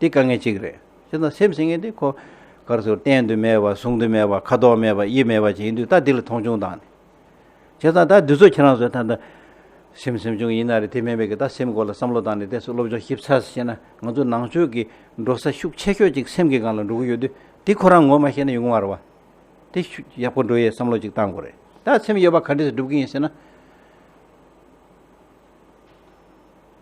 དེ་དཀའ་ངལ་གཅིག་རེད། སྤྱིར་ན་སེམས་ཟིན་ངེས་དེ་ཁོ། གར་ཚུར་བརྟེན་དུ་མེད་པ་བཟུང་དུ་མེད་པ་ཁ་དོག་མེད་པ་དབྱིབས་མེད་པ་ཅིག་ཡིན་དུས་ད་དེ་ལ་མཐོང་ཆུང་དང། བྱས་ཙང་ད་དུས་ཚོད་ཁྱེད་རང་ཚོས་ད། སེམས་སེམས་ཆུང་ཡིན་ན་རེད་དེ་མིན་པའི་གི་ད་སེམས་སྐོར་ལ་བསམ་བློ་བཏང་ནས་དེ་སོགས་སློབ་སྦྱོང་ཞིབ་ཚགས་སུ་བྱས་ན་ང་ཚོ་ནང་ཆོས་ཀྱི་འགྲོ་ས་ཤུགས་ཆེ་ཤོས་ཅིག་སེམས་ཀྱི་སྒང་ལ་འགྲོ་གི་ཡོད་དུས་དེ་ཁོ་རང་ངོ་མ་ཤེས་ན་ཡོང་གི་མ་རེད་བ། དེ་ཡག་པོ་འགྲོ་ཡའི་བསམ་བློ་ཅིག་བཏང་དགོས་རེད། ད་སེམས་ཡོད་པ་ག་འདྲས་སུ་སྒྲུབ་གི་ཡིན་ཟེར་ན།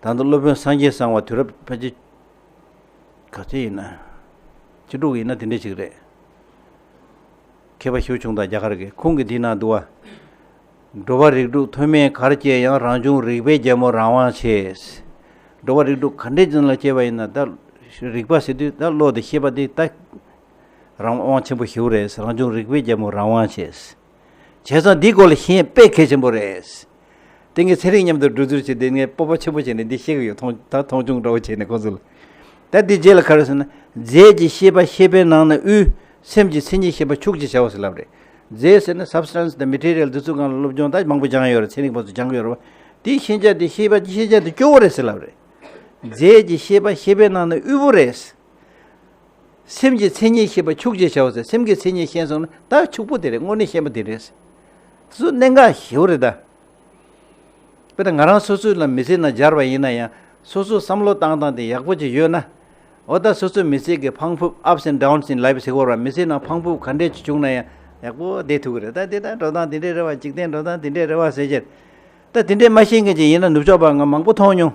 ད་ལྟ་སློབ་དཔོན་སངས་རྒྱས་གསང་བ་དུས་རབས་ཕལ་ཆེར་ག་ཚོད་ཡིན་ན། བཅུ་དྲུག་ཡིན་ན་དེ་འདྲས་ཞིག་རེད། མཁས་པ་ཞུ་ཆུང་དང་རྒྱ་གར་གྱི་ཁོང་གི་དེའི་ནང་དུ་བ། འགྲོ་བ་རིགས་དྲུག་མཐོ་དམན་གར་སྐྱེས་ཡང་རང་བྱུང་རིག་པའི་རྒྱལ་མོ་རང་དབང་ཆེས། འགྲོ་བ་རིགས་དྲུག་ག་འདྲས་ཅན་ལ་སྐྱེས་པ་ཡིན་ན་ད་རིག་པ་ཟེར་དུས་ད་བློ་དེ་ཤེས་པ་དེ་ད་རང་དབང་ཆེན་པོ་ཞུ་རེད་རང་བྱུང་རིག་པའི་རྒྱལ་མོ་རང་དབང་ཆེས། བྱས་ཙང་འདིའི་སྐོར་ལ་ཤེས་ཡོན་དཔེ་གལ་ཆེན་པོ་རེད། དེང་གི་ཚན་རིག་མཉམ་དུ་བསྒྲུབ་རྩོད་བྱས་ཏེ་ངས་སྤོབས་པ་ཆེན་པོ་བྱས་ནས་འདི་ཤེས་ཀྱི་ཡོད་ཐོང་ད་མཐོང་ཆུང་འདྲ་བོ་བྱས་ནས་ཁོང་ཚོ་ལ། ད་འདི་རྗེས་ལ་ག་རེ་ཟེར་ན། རྫས་ཀྱི་ཤེས་པ་ཤེས་པའི་ནང་ན་དབུས། སེམས་ཀྱི་མཚན་ཉིད་ཤེས་པ་ཕྱུག་ཅེས་བྱ་བ་ཟེར་ལབ་རེད། རྫས་ཟེར་ན Substance དང Material འདི་ཚོའི་སྒང་ལ་སློབ་སྦྱོང་ད་མང་པོ་སྦྱངས་ཡོད་རེད་ཚན་རིག་པ་ཚོས་སྦྱངས་ཡོད་རེད། དེའི་ཤེས་བྱ་དེ་ཤེས་པ་ཀྱི་ཤེས་བྱ་དེ་སྐྱོ་བོ་རེད་ཟེར་ལབ་རེད། རྫས་ཀྱི་ཤེས་པ་ཤེས་པའི་ནང་ན་དབུལ་བོ་རེད། སེམས་ཀྱི་མཚན་ཉིད་ཤེས་པ་ཕྱུག་ཅེས་བྱའོ་ཟེར་སེམས་ཀྱི་མཚན་ཉིད་ཤེས་སོང་ན་ད་ཕྱུག་པོ་དེ་རེད་དངོས་གནས་ཤེས་པ་དེ་རེད། སུ་གནད་འགག་ཞེ་བོ་རེད་ད། དཔེར་ན་ང་རང་སོ་སོའི་ལ་མི་ཚེ་ནང་སྦྱར་བ་ཡིན་ན་ཡང་སོ་སོ་བསམ་བློ་བཏང་བཏང་སྟེ་ཡག་པོ་ཅིག་ཡོད་ན། འོ་ད་སོ་སོའི་མི་ཚེ་གི་ཕང་ཕུབ Ups and Downs in Life ཟེར་བར་བ་མི་ཚེ་ནང་ཕང་ཕུབ་ག་འདྲས་ཅིག་བྱུང་ན་ཡང་ཡག་པོ་བསྡད་ཐུབ་ཀྱི་རེད་ད་འདི་ལྟར་འགྲོ་སྟངས་འདི་འདྲས་རེད་བ་འཇིག་རྟེན་འགྲོ་སྟངས་འདི་འདྲས་རེད་བ་ཟེར་ཕྱིར། ད་འདི་འདྲས་མ་ཤེས་མཁན་ཅིག་ཡིན་ན་ནུབ་ཕྱོགས་པ་ང་མང་པོ་མཐོང་མྱོང།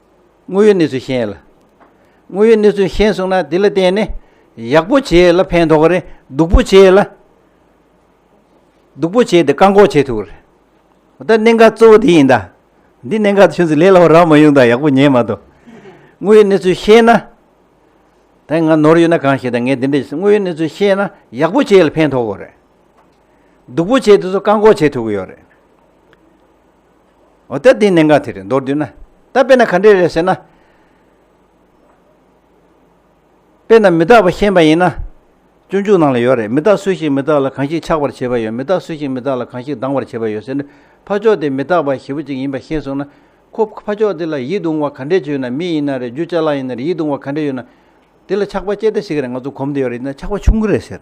དངོས་ཡོད་གནས་ཚུལ་ཤེས་ལ། དངོས་ཡོད་གནས་ཚུལ་ཤེས་གསུངས་ན་དེ་ལ་བརྟེན་ནས་ཡག་པོ་བྱས་ལ་ཕན་ཐོགས་རེད་སྡུག་པོ་བྱས་ལ། སྡུག་པོ་བྱས་དེ་བཀག་འགོག་བྱས་ཐུབ་རེད། ད་གནད་འགག་གཙོ་བོ་དེ་ཡིན་ད། འདི་གནད་འགག་ཆུ་ཚོད་ལས་སླ་བོ་རག་མ་ཡོང་ད་ཡག་པོ་ཉན་མ་ཐུབ། དངོས་ཡོད་གནས་ཚུལ་ཤེས་ན། ད་ང་ནོར་ཡོད་ན་གང་ཤེས་ད་ངས་འདི་འདྲ་བྱས་སོང་དངོས་ཡོད་གནས་ཚུལ་ཤེས་ན་ཡག་པོ་བྱས་ལ་ཕན་ཐོགས་གོ་རེད། སྡུག་པོ་བྱས་དེ་ཚོ་བཀག་འགོག་བྱས་ཐུབ་ཀྱི་ཡོད་རེད། འོ་ད་དེའི་གནད་འགག་དེ་རེད་མདོར་བསྡུས་ན། ད་དཔེར་ན་ག་འདྲས་རེད་ཟེར་ན། དཔེར་ན་མི་རྟག་པ་ཤེས་པ་ཡིན་ན། སྤྱོད་འཇུག་ནང་ལ་ཡོད་རེད་མི་རྟག་སུ་ཞིག་མི་རྟག་ལ་གང་ཞིག་ཆགས་པར་བྱེད་པ་ཡོད་མི་རྟག་སུ་ཞིག་མི་རྟག་ལ་གང་ཞིག་སྡང་བར་བྱེད་པ་ཡོད་ཟེར་ནས་ཕ་ཕྱོགས་དེ་མི་རྟག་པ་ཞེ་པོ་ཅིག་ཡིན་པ་ཤེས་སོང་ན། ཁོ་ཕ་ཕྱོགས་དེ་ལ་ཡིད་གདུང་བ་ག་འདྲས་བྱུང་ཡོད་ན་མི་ཡིན་ན་རེད་རྒྱུ་ཅག་ལ་ཡིན་ན་རེད་ཡིད་གདུང་བ་ག་འདྲས་ཡོད་ན། དེ་ལ་ཆགས་པ་སྐྱེ་ད་ཞིག་རེད་ང་ཚོ་གོམས་དེ་ཡོད་རེད་ཡིན་ན་ཆགས་པ་ཆུང་ངུ་རེད་ཟེར།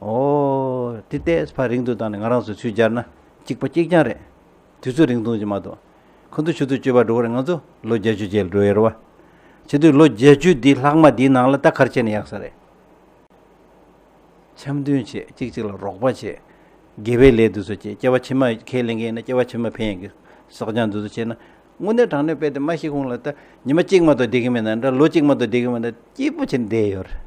ཨོ། དེ་ལྟས་ཕ་རིང་ཐུང་དང་ནི་ང་རང་སོ་ཚུལ་སྦྱར་ན་གཅིག་པ་གཅིག་རྐྱང་རེད། དུས་ཚོད་རིང་ཐུང་ཅིག་མ་གཏོགས། ཁོ་ཚོ་ཆུ་ཚོད་བཅུ་བར་འགྲོ་བར་ང་ཚོ་ལོ་བརྒྱད་ཅུ་རྗེས་འགྲོ་ཡི་རེད་བ། བྱེད་དུས་ལོ་བརྒྱད་ཅུ་འདིའི་ལྷག་མ་འདིའི་ནང་ལ་རྟ་ཁར་ཆས་ནས་ཡག་ས་རེད། འཆམ་མཐུན་བྱེད་གཅིག་གཅིག་ལ་རོགས་པ་བྱེད། དགེ་བའི་ལས་འདི་ཚོ་བྱེད་སྐྱེ་བ་ཕྱི་མ་ཁས་ལེན་མཁན་ཡིན་ན་སྐྱེ་བ་ཕྱི་མ་ཕན་ཡོན་གྱི་སྲོག་ལྗང་འདི་ཚོ་བྱེད་ན། དངོས་གནས་དྲང་གནས་དཔེ་དེ་མ་ཤེས་གོང་ལ་ད་ཉི་མ་གཅིག་མ་གཏོགས་བསྡད་གིན་མེད་ན་འདྲ་ལོ་གཅིག་མ་གཏོགས་བསྡད་གིན་མེད་ན་སྐྱིད་པོ་བྱེད་འདས་ཡོད་རེད།